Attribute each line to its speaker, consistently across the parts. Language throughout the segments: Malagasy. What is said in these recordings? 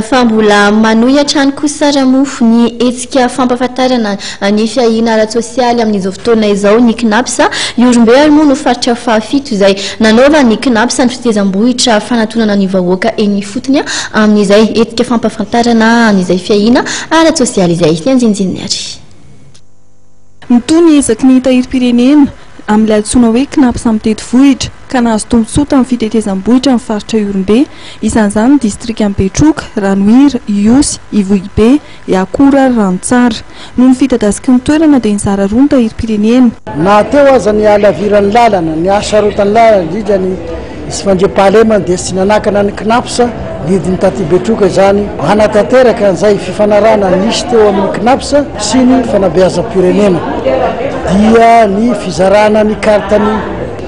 Speaker 1: Fa mbola manohy hatrany kosa Ramofo ny hetsika fampahafantarana ny fiahiana ara-tsosialy amin'izao fotoana izao ny Cnaps. Ihorombe ary moa no faritra fahafito izay nanaovan'ny Cnaps ny fitezam-bohitra fanatonana ny vahoaka eny ifotony amin'izay hetsika fampahafantarana an'izay fiahiana ara-tsosialy izay. Ny andinindininy ary. Mitohy ny
Speaker 2: ezaky ny tahirim-pirenena amin'ilay antsoina hoe Cnaps mitety vohitra ka nahazo tombontsoa tamin'ny fitetezam-bohitra ny faritra Ihorombe, isan'izany ny distrikan'i Betroka, Ranohira, Ihosy, Ivohibe, Iakora ary Ranotsara. Noho ny fidadasiky ny toerana dia nizara roa ny tahirim-pirenena. Na teo aza
Speaker 3: ny halaviran'ny lalana, ny hasarotan'ny lalana, indrindra ny. Tsy mandriampahalema ny dia tsy nanakana ny Cnaps, didin'i Taty Betroka izany hanatanteraka an'izay fifanarahana nisy teo amin'ny Cnaps sy ny fanabeazam-pirenena. Dia ny fizarana ny kartan'ny.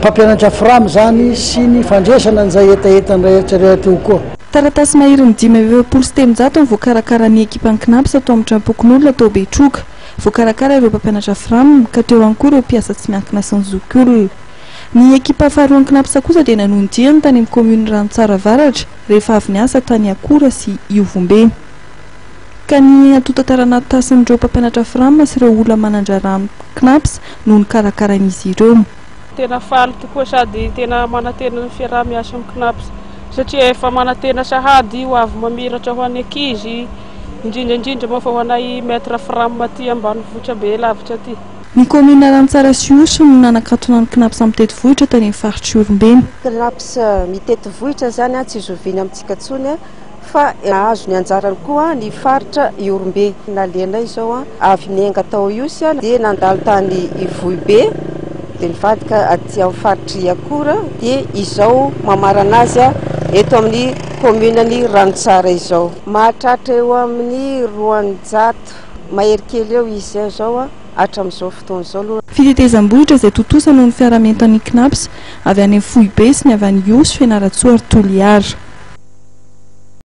Speaker 3: Mpampianatra Fram izany sy ny fandresana an'izay hetahetany rehetra rehetra teo koa. Taratasy maherin'ny
Speaker 2: dimy amby efapolo sy telonjato no voakarakaran'ny ekipan'ny Cnaps tao amin'ny Tranompokonolona tao Betroka. Voakarakara ireo mpampianatra Fram, ka teo ihany koa ireo mpiasa tsy miankina sy ny zokiolona. Ny ekipa faharoa an'ny Cnaps kosa dia nanohy ny diany tany amin'ny kaominin'i Ranotsara Avaratra rehefa avy niasa tany Akora sy Iovombe. Ka ny natonta taranatasn'ireo mpampianatra Fram sy ireo olona manan-draharaha amin'ny Cnaps no nokarakarain'izy ireo. Tena faly
Speaker 4: tokoa sady tena manantena ny fiaraha-miasa amin'ny Cnaps satria efa manantena sahady ho avy mamiratra ho an'ny ankizy, indrindra indrindra moa fa ho anay Maître Fram aty ambanivohitra be lavitra aty. Ny kaominina
Speaker 2: Rantsara sy Ihosy no nanakatona ny Cnaps mitety vohitra tany amin'ny faritr'i Iorimbe. Cnaps
Speaker 5: mitety vohitra izany tsy zoviana amintsika intsony fa nahazo ny anjarany koa ny faritra Ihorombe. Nalehanay izao avy niainga tao Ihosy dia nandalo tany Ivohibe dia nivadika aty amin'ny faritr'i Iakora dia izao mamarana azy eto amin'ny kaominan'i Ranontsara izao. Mahatratra eo amin'ny roanjato Mahery kely eo izy eo zao a, hatram'izao fotoana izao aloha. Fitetezam-bohitra izay
Speaker 2: tontosa noho ny fiara-mientan'ny Cnaps avy any amin'ny foibe sy ny avy any Ihosy, Fianarantsoa ary Toliara.